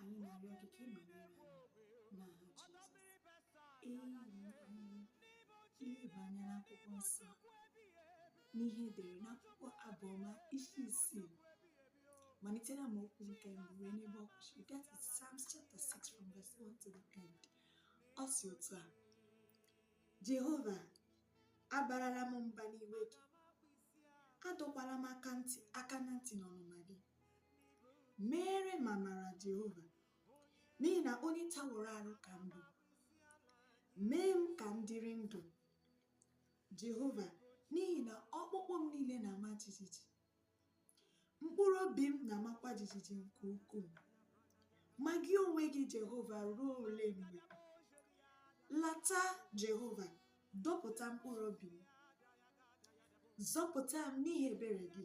anyị na-arịọ gị ka ị nọnyere anyị n'aha Jizọs ee ileba anya n'akwụkwọ nsọ n'ihe e dere n'akwụkwọ abụọma isi isii malite na amaokwu nke mbụ wee n'ebe ọ kwụsịrị that is Psalms chapter 6 from verse 1 to the end ọ si otu a Jehova abarala m mba n'iwe gị adọkwala m aka ntị aka na ntị n'ọnụma gị meere m amara Jehova n'ihi na onye taworo arụ ka m bụ mee m ka m dịrị ndụ Jehova n'ihi na ọkpụkpụ m niile na-ama jijiji mkpụrụ obi m na-amakwa jijiji nke ukwuu ma gị onwe gị Jehova ruo ole mgbe lata Jehova dọpụta mkpụrụ obi m zọpụta m n'ihi ebere gị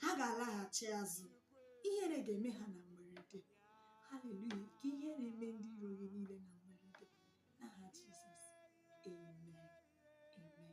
ha ga-alaghachi azụ ihere ga-eme ha na mberede haleluya ka ihere eme ndị iro gị niile na mberede n'aha jizọs amen amen